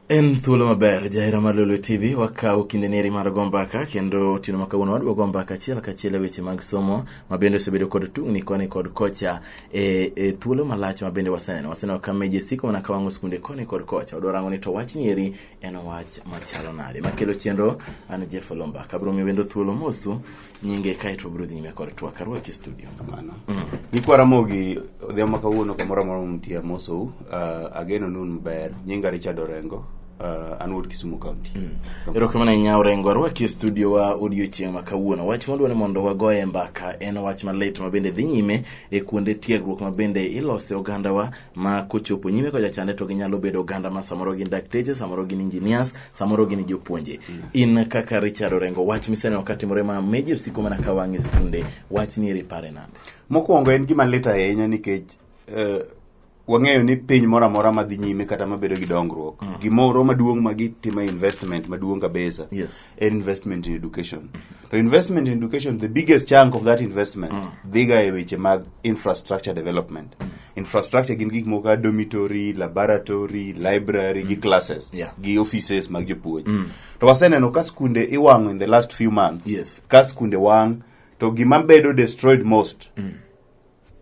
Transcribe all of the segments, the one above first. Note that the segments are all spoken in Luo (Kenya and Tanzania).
en thuolo maber jahera mar lolo tv wakawo kinde neri mar go mbaka kendo otieno ma kawuono wadwa go mbaka achiel kachiel e weche mag somo ma bende osebedo kod tungni koni kod kocha e, e thuolo malach ma bende waseneno waseneno ka meje siko mana ka wang'o skunde koni kod kocha wadwa rango ni to wachni eri en wach machalo nade makelo chenro an jeff olomba kabro mi wendo thuolo mosu nyinge kaeto bro dhi nyime kod twak arwaki studio kamano gikwara mogi odhiambo ma kawuono kamoro amora mumtie amosou uh, ageno nun maber nyinga richard orengo uh, an wuod kisumu county erokamano ahinya orengo arwaki e studio wa odiochieng' ma kawuono wach mwadwa ni mondo wagoye mbaka en wach malit mabende dhi nyime e kuonde tiegruok mabende ilose ogandawa ma kochopo nyime kocha chande to ginyalo bedo oganda ma samoro gin dakteche samoro gin engineers samoro gin jopuonje in kaka richard orengo wach miseneno katimore ma meji osiko mana ka wang'e skunde wach ni eri pare nade mokwongo en gima lit ahinya nikech eh, wang'eyo ni piny moro amora madhi nyime kata mabedo gi dongruok gimoro maduong' ma gitimo investment maduong' kabisa Yes. en investment in education to investment in education the biggest chunk of that investment dhiga e weche mag infrastructure development infrastructure gin gik moko kaka dormitory laboratory library gi classes Yeah. gi offices mag jopuonj to waseneno ka skunde iwang'o in the last few months Yes. ka skunde wang' to gima bedo destroyed most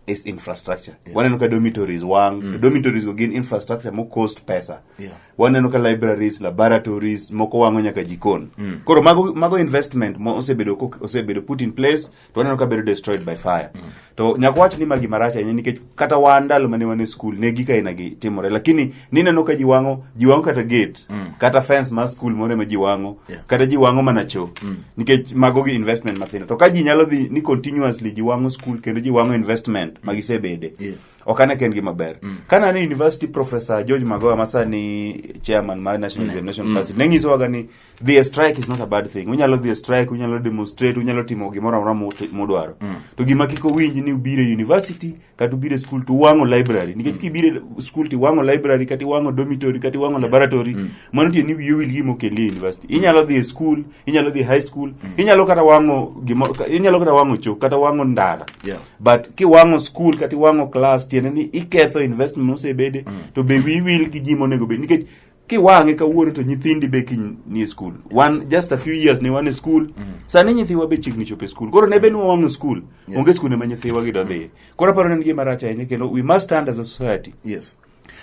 is infrastructure yeah. waneno ka dormitories wang mm. to dormitories go gin infrastructure mo cost pesa yeah. waneno ka libraries laboratories moko wango nyaka jikon mm. koro mago, mago investment mo osebedo osebedo put in place to waneno ka bedo destroyed by fire mm. to nyaka wach ni magi marach ahinya nikech kata wan ndalo mane wan e school ne gika ina gi timore lakini nineno ka jiwang'o jiwang'o kata gate mm. kata fence mar skul moro ema jiwang'o yeah. kata jiwang'o mana cho mm. nikech mago gi investment mathindo to ka ji nyalo dhi ni continuously jiwang'o skul kendo jiwang'o investment mm. magisebede yeah. ok ane ka en gima ber mm. kana ne university professor george magoa masani chairman mar national mm. examination mm. council ne nyisowaga ni dhi e strike is not a bad thing unyalo dhi e strike unyalo demonstrate unyalo timo gimoro amora mut- mudwaro to gima kik owinj ni ubiro e university kata ubiro e school to uwang'o library nikech kibiro e school to iwang'o library kata iwang'o dormitory kata iwang'o laboratory mano tiende ni wiyi owil gima okendi e university inyalo dhi e school inyalo dhi e high school inyalo kata wang'o gimo ka- inyalo kata wang'o choo kata wang'o ndara Yeah. but kiwang'o school kata iwang'o class tiende ni iketho investment mosebede to be wiyi wil gi ji monego bed nikech kiwang'e kawuono to nyithindi be kiny ni e skul wan just a few years ne wan e skul mm. sani nyithiwa be chiegni chopo e skul koro ne be nwa wang'o skul yeah. onge skul ema nyithiwa gi dodhiye mm. koro aparo nen gima rach ahinya kendo we must stand as a society yes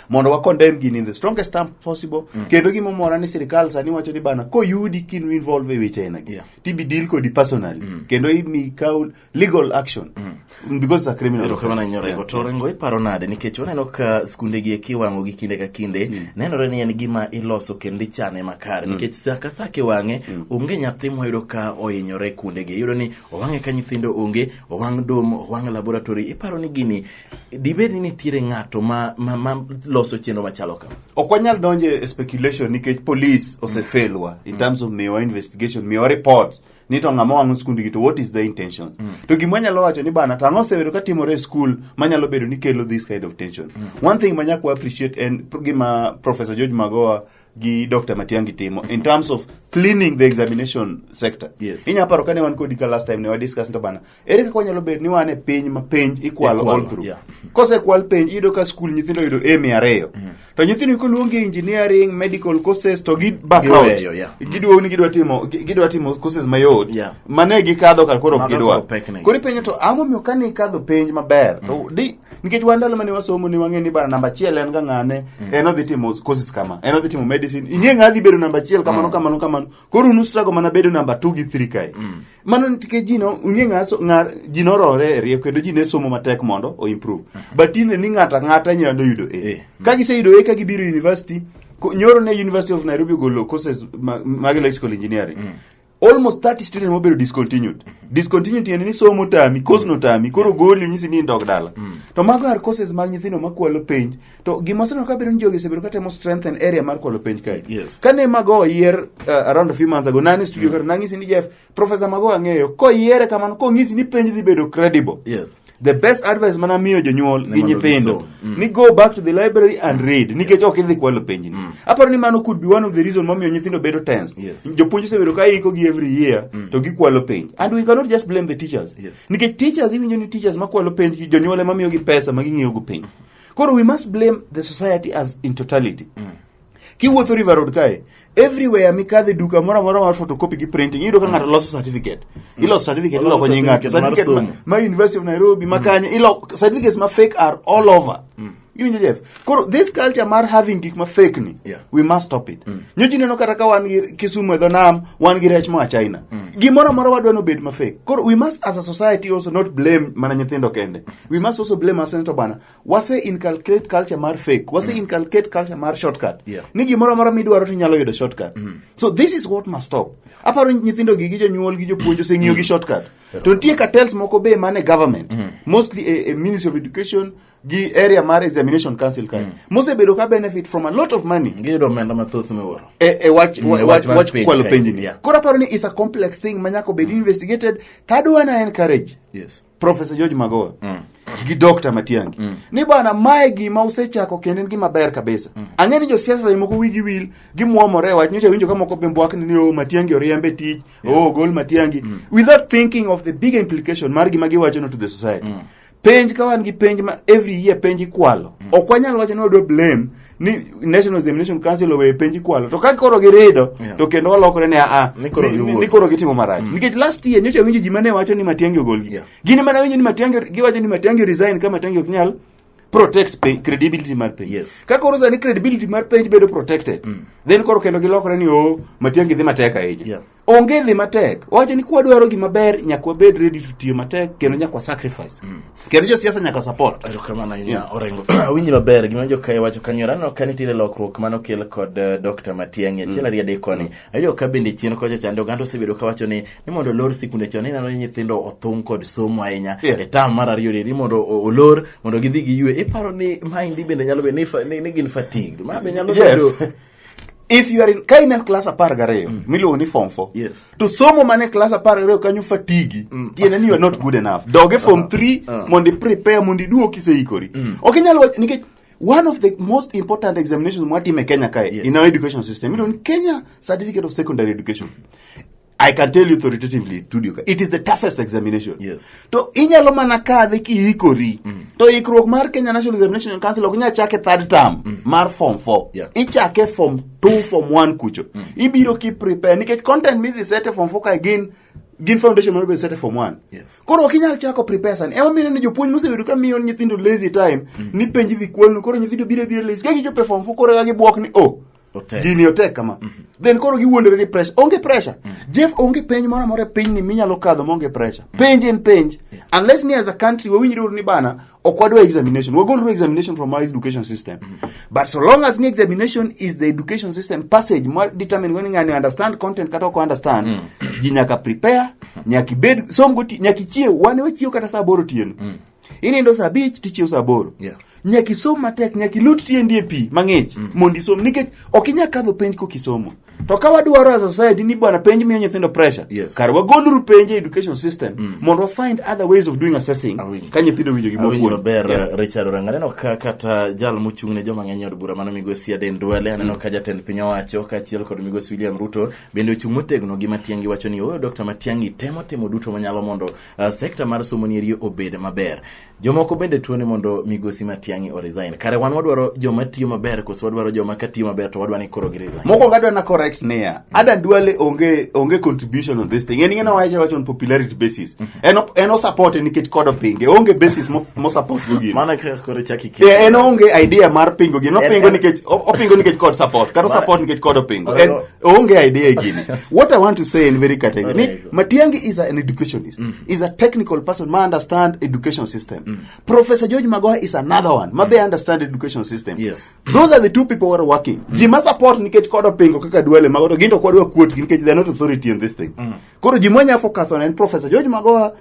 mondo wa condemn gini in the strongest term possible mm. kendo gima omora ni sirikal sani wacho ni bana koyudi kinu involve e weche aina gi yeah. tibi deal kodi personally mm. kendo imi kaw legal action mm. because it's a criminal erokamana nyora yeah. to rengo iparo nade nikech waneno ka skunde gi eki wango gi kinde ka kinde mm. nenore ni en gima iloso kendo ichane makare mm. nikech saa ka saa kiwang'e mm. onge nyathi moyudo ka ohinyore kuonde gi iyudo ni owang'e ka nyithindo onge owang' dom owang' laboratory iparo ni gini dibed ni nitiere ng'ato ma, ma, ma loso chenro machalo kama ok wanyal donje speculation nikech police osefelwa mm. in terms of miwa investigation miwa reports ni to ng'ama wang'o skundgi to what is the intention mm. to gima wanyalo wacho ni bana to ang'o osebedo ka timore e skul manyalo bedo ni kelo this kind of tension mm. one thing manyaka wa appreciate en gima professor george magoa gi dr matiangi timo in terms of cleaning the examination sector yes. inyalo paro kane wan kodi ka last time ne wadiscuss to bana ere kaka wanyalo bedo ni wan e piny ma penj ikwalo Ikwalo, all through yeah. kosekwal penj iyudo ka skul nyithindo oyudo a mia ariyo to nyithindo koluongi engineering medical courses to gi back out Giweyo, yeah. giduogo ni gidwa timo gi- gidwa timo courses mayot Yeah. mane gikadho kar koro ok Mago gidwa koro pek ne. koro ipenjo to ang'o miyo kane ikadho penj maber to di nikech wan ndalo mane wasomo ne wang'e ni bana namba achiel en ga ng'ane en odhi timo courses kama en odhi timo medicine ing'e ng'a dhi bedo namba achiel kamano kamano kamano koro unu struggle mana bedo namba two gi three kae mano nikech ji no ung'e ng'a so- ng'a- ji norore e rieko kendo ji ne somo matek mondo o improve but tinde ni ng'ato ang'ata nyalo yudo A. e ka giseyudo e ka gibiro university ko- nyoro ne university of nairobi ogolo courses ma- mag electrical engineering almost 30 students mobedo discontinued discontinued tiende ni somo tami course no tami koro goli nyisi ni indog dala to mago are courses mag nyithindo makwalo penj To gima waseneno kabedo ni jogi osebedo katemo strengthen area mar kwalo penj kae. Yes. Kane Mago oyier uh, around a few months ago, nani studio kata nang'isi ni Jeff, Professor Mago ang'eyo, koyiere kamano, kong'isi ni penj dhi bedo credible. Yes. The best advice mana miyo jonyuol Ni gi mondo nyithindo gisom. Mm. ni go back to the library and read nikech ok idhi kwalo penjni. Aparo ni mano could be one of the reason momiyo nyithindo bedo tensed. Yes. Jopuonj osebedo ka iko gi every year to gikwalo penj. And we cannot just blame the teachers. Yes. Nikech teachers iwinjo ni teachers makwalo penj jonyuol ema miyogi pesa ma ging'iyogo penj. koro we must blame the society as in totality mm. kiwuotho river road kae everywhere mikadhe duka moro amora mar photocopy gi printing iyudo ka ng'ato loso certificate mm. iloso certificate Oloso iloko nying ng'ato certificate mar certificate ma- somo. ma university of nairobi ma kanye ilo certificates ma fake are all over iwinjo jeff koro this culture mar having gik ma fake ni Yeah. we must stop it nyochi neno kata ka wan gi kisumu e dho nam wan gi rech moa china gimoro amora wadwa nobed ma fake koro we must as a society also not blame mana nyithindo kende We must also blame our senator bana. Wase inculcate culture mar fake. Wase mm. inculcate culture mar shortcut. Yeah. Ni gimoro amora midwaro to inyalo yudo shortcut. Mm. So this is what must stop. Aparo nyithindo gi gi jonyuol gi jopuonj oseng'iyo gi mm. shortcut. To nitie cartels moko be mane government. Mm. Mostly a, a Ministry of Education gi area mar examination council kae. Mm. Mosebedo ka benefit from a lot of money. Giyudo omenda mathoth miwuoro. E, e wach, mm, e wach, wach kwalo penjni. Yeah. Koro aparo ni is a complex thing manyako bed mm. investigated. Tadwa na encourage. Yes. Professor George Magoha mm. gi Dr. Matiangi mm. ni bwana mae gima usechako kendo en gima ber kabisa mm. ang'e ni josiasa e moko wigi wil gimwomore e wach nyocha winjo ka moko bembwak ni o oh, Matiangi oriembe tich yeah. o oh, gol Matiangi mm. without thinking of the big implication mar gima giwachono to the society mm. penj ka wan gi penj ma every year penj ikwalo mm. ok wanyal wacho ni wadwa blame ni National Examination Council owe penj kwalo to ka koro girido Yeah. to kendo walokore ni aa Ni koro ni- ni- giwuok. ni koro gitimo marach nikech last year nyocha winjo ji mane wacho ni Matiang'i ogolgi Yeah. gini mana winjo ni Matiang'i giwacho ni Matiang'i resign ka Matiang'i ok nyal protect pay, credibility mar penj Yes. ka koro sani credibility mar penj bedo protected then koro kendo gilokore ni o Matiang'i dhi matek ahinya Yeah. onge dhi matek wacho ni kwadwaro gima ber nyaka wabed ready to tiyo matek kendo nyaka wa sacrifice mm. kendo josiasa nyaka support erokamano ahinya yeah. orengo awinji maber gima jokae wacho kanyora aneno ka nitiere lokruok mane okel kod uh, eh, dr matiang'i achiel mm. ariyo adek koni mm. ayudo ka bende chien kocha chande oganda osebedo ka wacho ni ni mondo olor sikunde chon ineno ni nyithindo othung' kod somo ahinya yeah. e tam mar ariyo ni mondo olor mondo gidhi giywe iparo ni maendi bende nyalo bedo ni, ni, ni gin fatigue ma be nyalo bedo yeah. if you are in ka in e class apar gariyo mm. miluongo ni form four yes. to somo mane class apar gariyo kanyo fatigi mm. tiende ni you are not good enough doge form uh-huh. three uh -huh. mondo iprepare mondo iduo kiseikori mm. ok inyal wacho nikech one of the most important examinations mwatime kenya kae yes. in our education system iluongo ni kenya certificate of secondary education I can tell you authoritatively Tudioka, it is the toughest examination. Yes. To inyalo mana kadhe kiikori. Mm. To ikruok mar Kenya National Examination Council ok nyal chake third term mm. mar form 4. Yeah. Ichake form 2 form 1 kucho. Mm. Ibiro ki prepare nikech content midhi sete form 4 ka gin gin foundation mar sete form 1. Yes. Koro ok inyal chako prepare sana. Ema mine ni jopuonj mosebedo ka miyo nyithindo lazy time mm. ni penji dhi kwalnu koro nyithindo biro biro lazy. Ka gichopo form 4 koro ga gibuok ni oh Otek. gini otek kama then koro giwuondore ni pressure onge pressure jeff onge penj moro amora e pinyni minyalo kadho maonge pressure penj en penj unless ni as a country wawinjre uru ni bana ok wadwa examination wagolru examination from our education system but so long as ni examination is the education system passage ma determine whether ngani understand content kata ok understand ji nyaka prepare nyaka ibed som goti nyaka ichiew wan wachiew kata saa aboro otieno inindo saa abich tichiew saa aboro Yeah. nyaka isom matek nyaka ilut tiendi e pi mang'ich mondo isom nikech ok inyal kadho penj kok isomo to ka wadwaro as a society ni bwana penj miyo nyithindo pressure Yes. kar wagoluru penj e education system mondo wa find other ways of doing assessing Awinjo. ka nyithindo winjo gima awinjo opuonj. maber Yeah. eh, richard oranga aneno ka kata jal mochung' ne joma ng'eny e od bura mano migosi aden duale aneno ka jatend piny owacho kaachiel kod migosi william ruto bende ochung' motegno gi matiangi wacho ni oyo dr matiangi temo timo duto manyalo mondo Uh, sekta mar somo nieri obed maber jomoko bende tuone mondo migosi matiang'i oresign kare wan wadwaro joma tiyo maber koso wadwaro joma ka tiyo maber to wadwa ni koro gi resign mokwongo adwa na correct niya adan duale onge onge contribution on this thing en ing'ena wacha wacha on popularity basis mhm. en en osupporte nikech kod pinge onge basis mosupport go gino mana kaka koro chaki ki eh, en onge idea mar pingo gino pingo nikech opingo nikech kod support kata support nikech kod pingo onge idea gini what i want to say in very category ni Alright. matiangi is an educationist is a technical person ma understand education system professor george magoha is another one ma be understand education system Yes. those are the two people who are working ji ma support nikech kodo pingo kaka duale mago to gin to kwadwa kuotgi nikech they are not authority in this thing koro ji mwanya focus on en professor george magoha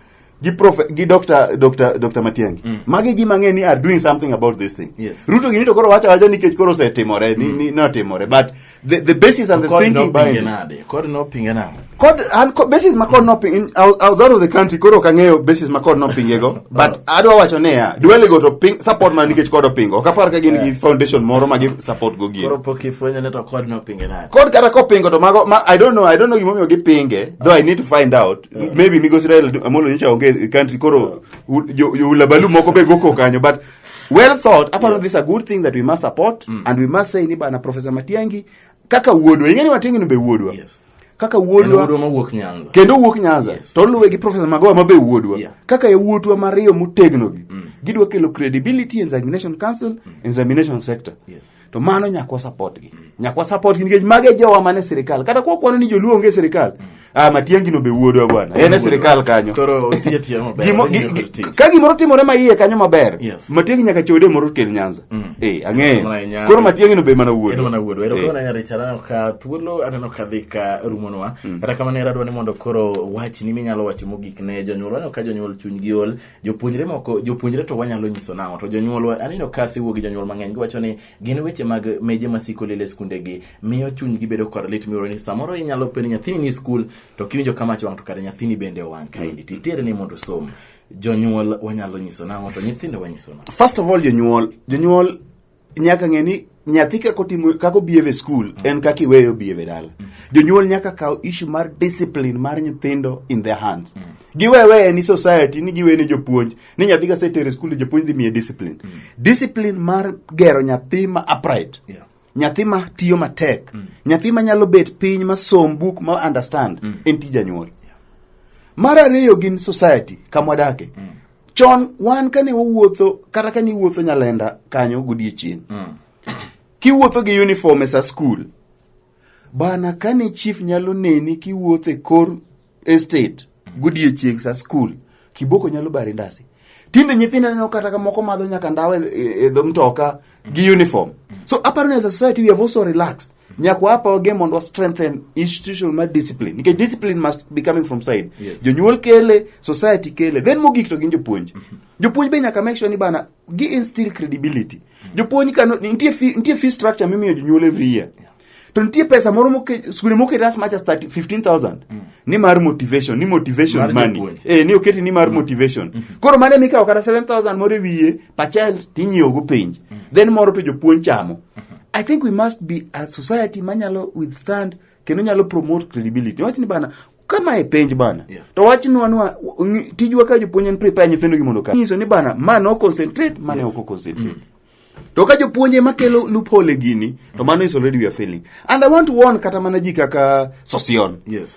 gi prof gi Dr. Dr. Dr. Matiangi mm. magi gi mang'e ni are doing something about this thing yes. Ruto gini to koro wacha wacha nikech koro osetimore mm. ni, ni otimore but the, the basis and the kod thinking behind it kod no pinge na kod an kod basis ma kod no ping in outside of the country koro ka ng'eyo basis ma kod no pinge go but oh. adwa wacho ne ya duele go to ping support ma nikech kod pingo ok apar ka gin yeah. gi foundation moro ma gi support go gi koro pok ifwenyo ne to kod no pinge na kod kata ko pingo to mago ma, I don't know I don't know gimomiyo gi pinge though oh. I need to find out maybe migosi raila amolo nyocha onge e country koro u- jo- jo ulabalu moko be goko kanyo but well thought aparo this a good thing that we must support and we must say ni bana professor matiangi kaka wuodwa ing'eni matiangi no be wuodwa Yes. kaka En wuodwa wuodwa mawuok nyanza kendo wuok nyanza Yes. to oluwe gi profesa magowa mabe wuodwa Yeah. kaka yawuotwa mariyo motegnogi gidwa kelo credibility e examination council examination sector Yes. to mano nyaka wasapot gi nyaka wasapot gi nikech mage jowa mane sirikal kata kwa kwano ni joluo onge sirikal ah matiangi no be wuodwa bwana en e sirikal kanyo Koro otiye tiye maber. Gimo- gi- Otiye gi- tiye. ka gimoro timore ma iye kanyo maber Yes. matiangi nyaka chode moro kel nyanza Mm. eh Mana ang'eyo Nyanza. koro matiangi no be mana wuodwa Ero mana wuodwa. Ero Eh. koro nanya Richard aneno ka thuolo aneno ka dhi ka rumonwa. Kata kamano ero adwa ni mondo koro wachni minyalo wacho mogik ne jonyuol. Aneno ka jonyuol chunygi ol. Jopuonjre moko, jopuonjre to wanyalo nyiso nang'o? To jonyuolwa, aneno ka asewuo gi jonyuol mang'eny, giwacho ni gin weche mag meje masiko lilo e skundegi, miyo chunygi bedo kod lit miwuoro ni samoro inyalo penjo nyathini ni skul, to kiwinjo ka mach wang' to kare nyathini bende owang' kaendi, to itere ni mondo osom. Jonyuol wanyalo nyiso nang'o, to nyithindo wanyiso nang'o? First of all, jonyuol, jonyuol nyaka ng'e ni nyathi kako timo kako behave e school mm. en kaka iweyo behave e dala mm. jonyuol nyaka kaw issue mar discipline mar nyithindo in their hands mm. giwewe ni society ni giwe ni jopuonj ni nyathi ka setere e school jopuonj dhi miye discipline mm. discipline mar gero nyathi ma upright yeah nyathi ma tiyo matek mm. nyathi ma nyalo bet piny ma som buk ma understand mm. en tij janyuol yeah. mar ariyo gin society kamwadake mm. chon wan kane wawuotho kata kane iwuotho nyalenda kanyo godiechieng mm. kiwuotho gi uniform e sa skul bana kane chief nyalo neni kiwuotho e kor estate godiechieng sa skul kiboko nyalo bari ndasi tinde nyithindo neno kata kamoko madho nyaka ndawa e, e, e dho mtoka gi uniform so aparo ni as a society we have also relaxed nyaka wapa wage mondo wa strengthen institutional mar discipline nikech discipline must be coming from side Yes. jonyuol kele society kele then mogik to gin jopuonj jopuonj be nyaka make sure ni bana gi instill credibility jopuonj kano nitie fee, nitie fee structure mimiyo jonyuol every year to nitie pesa moro moke- skunde moket as much as 30 15000 ni mar motivation ni motivation Mar money jopuonj. eh, ni oketi ni mar motivation koro mane mikawo kata 7000 moro e wiye per child tinyiewo go penj then moro to jopuonj chamo i think we must be a society manyalo withstand kendo nyalo promote credibility wach ni bana kama e penj bana Yeah. to wach nwa nwa ngi- tijwa ka jopuonj en prepare nyithindo gi mondo ka nyiso ni bana ma no concentrate mane ok concentrate to ka jopuonj ema kelo loophole gini to mano is already we are failing and i want to warn kata mana ji kaka sosion Yes.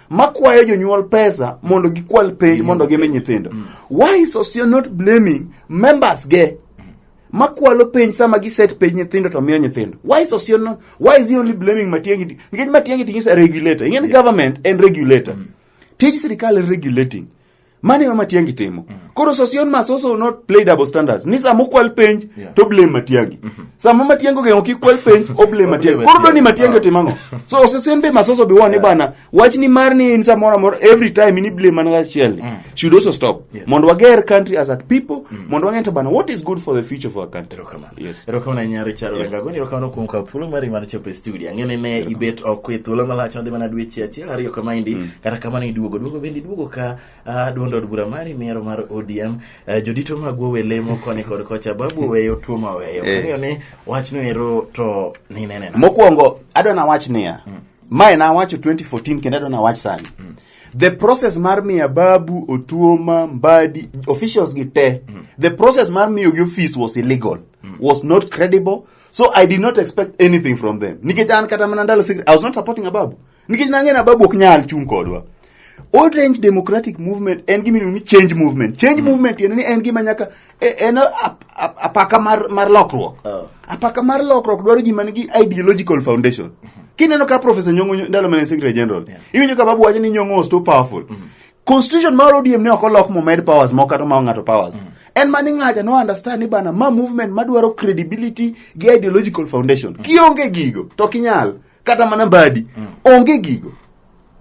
makwayo jonyuol pesa mondo gikwal penj mondo gimi nyithindo why is Osio not blaming members ge makwalo penj sama giset penj nyithindo to miyo nyithindo why is Osio not why is he only blaming Matiang'i nikech Matiang'i is a regulator ing'e ni government en regulator tij sirikal en regulating mano ema matiangi timo koro sosion must also not play double standards ni sama okwal penj Yeah. to blame matiangi sama matiangi ogeng'o kik kwal penj o blame matiangi koro doni matiangi otimo ang'o so sosion be must also be one ni bana wach ni mar ni in samoro amora every time ni blame mana achiel ni should also stop Yes. mondo wager country as a people mondo wang'e to bana what is good for the future of our country Erokamano. Yes. Erokamano ahinya Richard Yeah. Orengago, ni erokamano kuom kawo thuolo mari mar chopo e studio. Ang'e ni ne ibet oko e thuolo malach madhi mana dweche achiel ariyo kamaendi, kata kamano iduogo. Duogo bende iduogo ka ah, duond od bura mari miero mar ODM. Eh, Jodito magwa owe lemo koni kod kocha, babu oweyo, tuo ma oweyo. Eh. Ang'eyo ni wachno ero to nineneno. Mokwongo adwa nawach niya, mae nawacho 2014 kendo adwa nawach sani. the process mar miya babu otuoma mbadi officials gi te the process mar miyo gi office was illegal was not credible so i did not expect anything from them nikech an kata mana ndalo secret i was not supporting ababu nikech nang'e na babu ok nyal chung kodwa orange democratic movement en gima iluongo ni change movement change movement tiende ni en gima nyaka E- en ap- ap- apaka mar, mar lokruok Oh. apaka mar lokruok dwaro ji man gi ideological foundation kineno ka professor nyongo Nyo- ndalo mane secretary general iwinjo ka babu wacho ni nyongo was too powerful constitution mar odm ne ok olok momed powers moko kata ma ng'ato powers en ma ni ng'aja no understand ni bana ma movement madwaro credibility gi ideological foundation kionge gigo to kinyal kata mana badi mm. onge gigo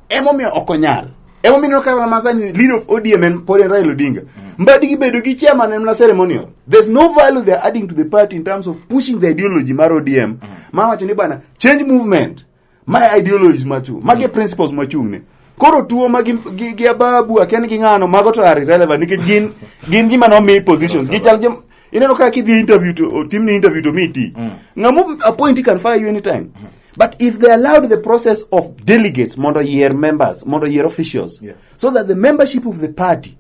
emomiyo ok onyal emomiyo ineno kata masani lead of odm en pod en raila odinga mm. mbadi gibedo gi chairman en mana ceremonial there's no value they are adding to the party in terms of pushing the ideology mar odm mm. ma wacho ni bana change movement my ideologies machu mage mm. principles machung'ne koro tuo ma gi, gi, gi ababu akiani gi ng'ano mago to are irrelevant nikech gin gin gima nomi positions gichal jom ineno kaka kidhi interview to o- timni interview to miti ng'amu appointee can fire you anytime but if they allowed the process of delegates mondo yier members mondo yier officials Yeah. so that the membership of the party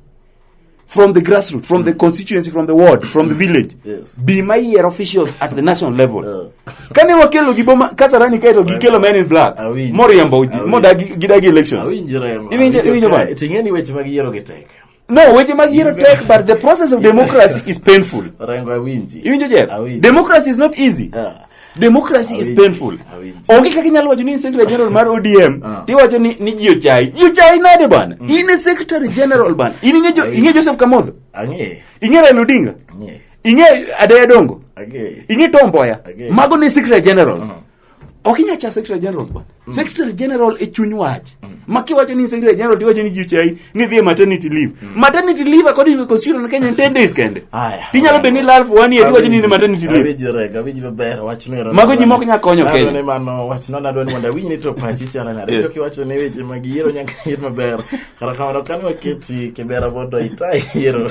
from the grassroots, from the constituency, from the ward, from the village. Yes. Be my year officials at the national level. Yeah. Kane wakelo gi boma kasarani kaito gi kelo men in black. Awinjo. Moriambo Awinjo. moda gi gidagi elections. Awinjo remo. Iwinjo- iwinjo ba? Awinjo. Ting'eni weche mag yiero gi tek. No, weche mag yiero tek but the process of democracy is painful. Rengo awinji. Iwinjo Jeff? Awinjo. Democracy is not easy. Yeah. democracy is Awinji, painful awinji. onge kaka inyalo wacho ni in secretary general mar odm Ah. tiwacho ni ni ji ochayi ji ochayi nade bana in e secretary general bana in ing'e Jo- ing'e joseph kamodho Ang'e. ing'e raila odinga Ang'e. ing'e adeya dongo Ang'e. ing'e tomboya Okay. mago ne secretary generals ok inya cha secretary generals bana Mm. Secretary General e chuny wach. Mm. Ma kiwacho ni Secretary General tiwacho ni jichai ni dhie maternity leave. Mm. Maternity leave according to the constitution in Kenya 10 days kende. Aya. Tinyalo beni lal for one year tiwacho ni maternity leave. Awiji rega, awiji maber wach ni. Mago ji mok nya konyo Kenya. Nadwani mano wach no nadwani mondo awinj ni to pachi chana na. Rega kiwacho ni weche mag yiero nyaka yir maber. Kara kamano kan waketi kibera bodo itai yiero.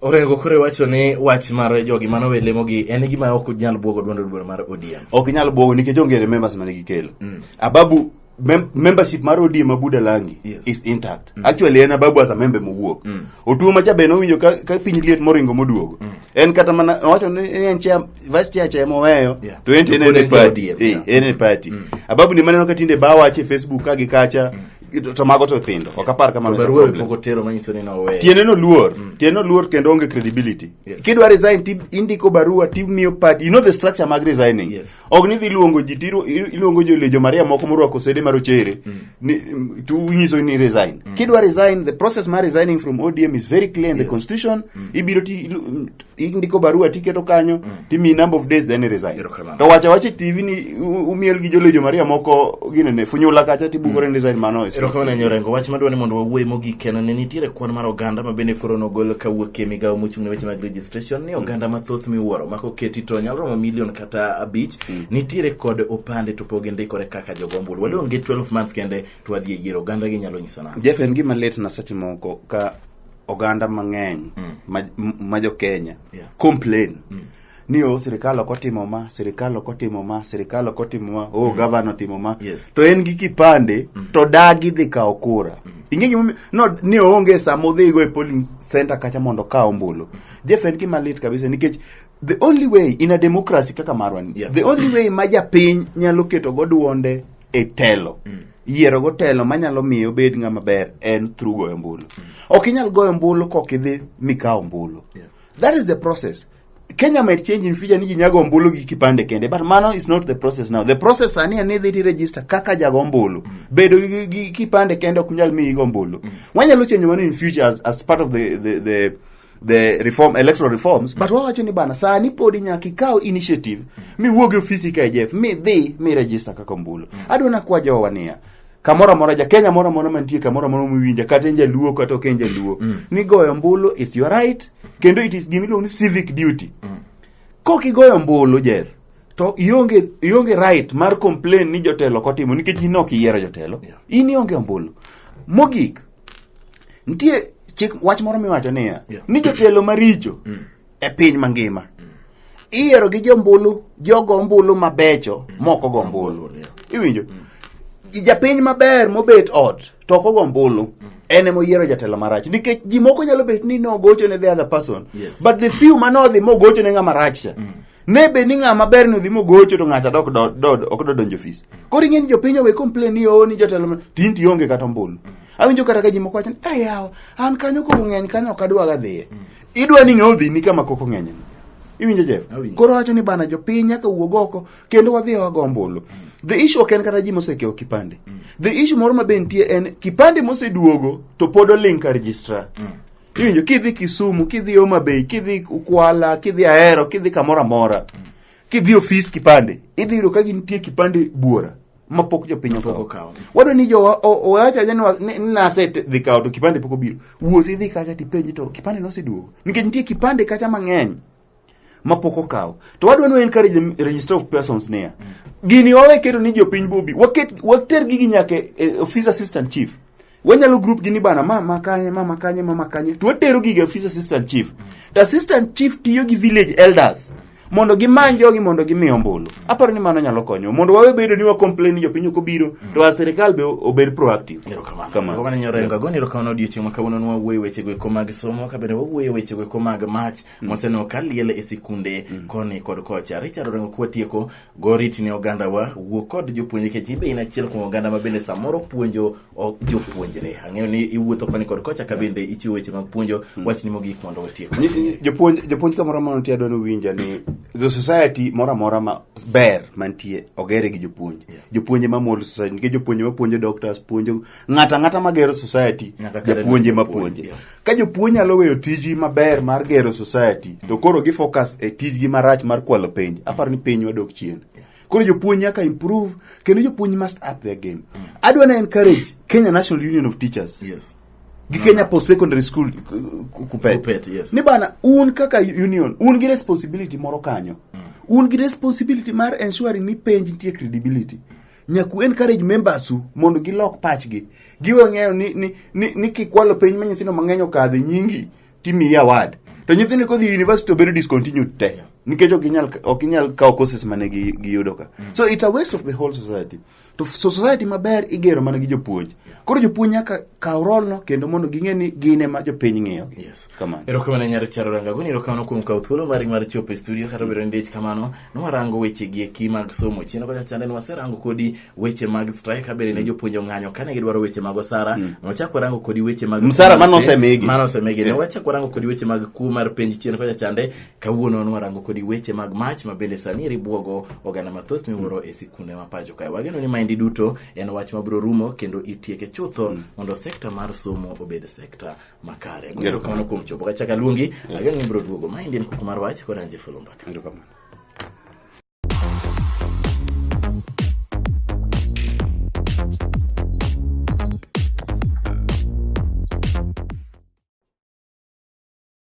Orengo kore wacho ni wach mar jogi mano we lemo gi en gima ok nyal buogo duond duond mar ODM. Ok nyal buogo nikech onge ne members mane gikelo. Mm. Ababu mem membership mar ODM ma Buda Langi yes. is intact. Mm. Actually en Ababu as a member mowuok. Mm. Otuo macha beno winjo ka, ka piny liet moringo moduogo. Mm. En kata mana wacho ni en chair vice chair chair moweyo yeah. to en en party. Eh, en party. Mm. Ababu ni maneno ka tinde ba wache Facebook ka gi kacha. Mm. to to mago to thindo ok apar To kamano barua problem. pok otero manyiso ni noweyo. tiende no luor tiende no luor kendo onge credibility Yes. kidwa resign ti indiko barua timiyo party you know the structure mag resigning Yes. ok ni dhi luongo ji tiru- iru- iluongo jo lejo maria moko morwako sede mar ochere ni- mm, tu nyiso ni resign kidwa resign the process mar resigning from odm is very clear in the constitution ibiro ti ilu- mm, indiko barua tiketo kanyo mm. timi number of days then resign to wacha wacha tv ni umiel gi jolejo maria moko gine ne funyula kacha tibugore mm. resign mano ero kama ne rengo wach madwani mondo wawuoye mogi kena ne nitiere kwan mar oganda ma bende koro nogol ka wuok e migawo mochung' ne weche mag registration ni mm. oganda mm. mathoth miwuoro ma koketi to nyalo romo milion kata abich mm. nitiere kod opande to pogi ndikore kaka jogombul mm. wadonge 12 months kende to wadhi e yiero oganda gi nyalo nyiso na jeff en gima lit na seche moko ka oganda mang'eny mm. ma, ma jo Kenya yeah. complain mm. ni o oh, sirikal ok otimo ma sirikal ok otimo ma sirikal ok otimo ma o oh, mm. gavana otimo ma yes. to en gi kipande mm. to dagi dhi kawo kura mm. ing'e gimomiyo no ni oonge sama odhigo e polling center kacha mondo okaw ombulu mm. jeff en gima lit kabisa nikech the only way in a democracy kaka marwani yeah. the only way ma japiny nyalo keto go duonde e telo mm. yiero go telo manyalo miyo obed ng'ama ber en through goyo mbulu mm. ok inyal goyo mbulu kok idhi mikawo mbulu yeah. that is the process Kenya might change in future ni ji nyago ombulu gi kipande kende but mano is not the process now the process sani en ni idhi register kaka jago ombulu mm. bedo gi, gi kipande kende ok nyal miyi go ombulu mm. wanyalo change mano in future as, as part of the, the, the the reform electoral reforms but wawacho ni bana sani podi nyaka ikaw initiative miwuog e ofisi ka jf mi dhi mi register kaka ombulu adwa nakwa jowa niya kamoro amora ja kenya moro amora mantie kamoro amora miwinja kata en jaluo kata ok en jaluo ni goyo ombulu is your right kendo it is gimiluongo ni civic duty kok igoyo ombulu jef to ionge ionge right mar complain ni jotelo kotimo nikech in ok iyiero jotelo in ionge ombulu mogik nitie chik wach moro miwacho niya Yeah. ni jotelo maricho e piny mangima iyiero gi jombulu jogo ombulu mabecho mok ogo ombulu Yeah. iwinjo japiny maber mobet ot to ok ogo ombulu en ema oyiero jatelo marach nikech ji moko nyalo bet ni nogocho ne the other person Yes. but the few manodhi mogocho ne ng'ama rach cha ne bed ni ng'a maber ni odhi mogocho to ng'acha dok do- do- ok dodonjo ofis koro ing'e ni jopiny owe complain ni oo ni jatelo ma- tin ti onge kata ombulu awinjo kata ka ji moko wacho ni "Eh, yawa an kanyo koko ng'eny kanyo ok adwaga dhiye idwa ni ng'a odhi ni kama koko ng'eny iwinjo jeff Awinjo. koro wacho ni bana jopiny nyaka wuog oko kendo wadhi wago ombulu the issue ok en kata ji mosekewo kipande the issue moro ma be nitie en kipande moseduogo to pod oling ka registrar Kiwinjo kidhi Kisumu, kidhi Homa Bay, kidhi Kwala, kidhi Ahero, kidhi kamoro amora. Kidhi ofis kipande, idhi yudo ka gintie kipande buora ma pok jopiny Pok okawo. okawo. Wado ni jowa o- owacho aja ni wa- ni ni nase te- dhi kawo to kipande pok obiro. Wuoth idhi kacha tipenji to kipande noseduogo. Nikech nitie kipande kacha mang'eny. mapok okaw to wadwa no encourage the register of persons niya gini wawe keto ni jopiny bobi waket water gigi nyaka e- e office assistant chief wanyalo group gini bana mama kanye mama kanye mama kanye to watero gigi e office assistant chief to assistant chief tiyo gi village elders mondo gimany jogi mondo gimi ombulu aparo ni mano nyalo konyo mondo wawe bedo ni wa complain ni jopiny ok obiro to a sirikal be obed proactive Kamano. Kamano. Wana nyorengo agoni erokamano odiochieng' ma kawuono nwawuoyo wechego eko mag somo kabende wawuoyo wechego eko mag mach Moseno ka liel e sikunde mm. koni kod kocha. Richard Orengo kuwa tieko goriti ne oganda wa wuo kod jopuonje kech ibe in achiel kuom oganda ma bende samoro puonjo jopuonjre. Ang'eyo ni iwuotho koni kod kocha ka bende ichiwo weche mag puonjo mm. wach ni mogik mondo watiek. Jopuonj jopuonj kamoro amora nitie adwani winja ni the society moro amora ma ber mantie ogere gi jopuonj. Yeah. Jopuonje ma mol society nikech jopuonje ma puonjo doctors puonjo ng'ato ang'ata ma gero society Nyaka kare japuonje ma japuonj, puonje yeah. ka jopuonj nyalo weyo tijgi maber mar gero society to koro gi focus e tijgi marach mar kwalo penj aparo ni piny wadok chien koro jopuonj nyaka improve kendo jopuonj must up their game adwa na encourage Kenya National Union of Teachers yes gi Kenya Post Secondary School ku- ku- Kupet, Kupet, yes. ni bana un kaka union un gi responsibility moro kanyo un gi responsibility mar ensuring ni penj nitie credibility nyaku encourage members u mondo gilok pachgi giwe ng'eyo ni, ni, ni, ni kikwalo piny ma nyithindo mang'eny okadhe nyingi timiyi award to nyithindo kodhi university obedo discontinued te nikech ok inyal ok inyal kawo courses mane gi- giyudo ka so it's a waste of the whole society to f- so society maber igero mana gi jopuonj koro jopuonj nyaka kaw rolno kendo mondo ging'e ni gin ema jopiny ng'iyogi Yes. Kamano. erokamano nyar charo rangagoni erokamano kuom kawo thuolo mari mar chopo e studio kata obedo ni dich kamano nwarango wechegi eki mag somo chien kocha chande ni waserango kodi weche mag strike kabere ne jopuonj ong'anyo kane gidwaro weche mag osara nwachak warango kodi weche mag Msara kuo mar mane pe- osemigi. mane osemigi ne Yeah. wachak warango kodi weche mag kuo mar penj chien kocha chande kawuono nwarango kodi weche mag mach ma bende sani eri bwogo oganda mathoth miwuoro e sikunde ma pacho kae wageno ni maendi duto en wach mabiro rumo kendo itieke chutho mondo sekta mar somo obed sekta makare Erokamano. erokamano kuom chopo kachak aluongi ageng' ibiro duogo ma indien kuku mar wach kod anje fulu mbaka Erokamano.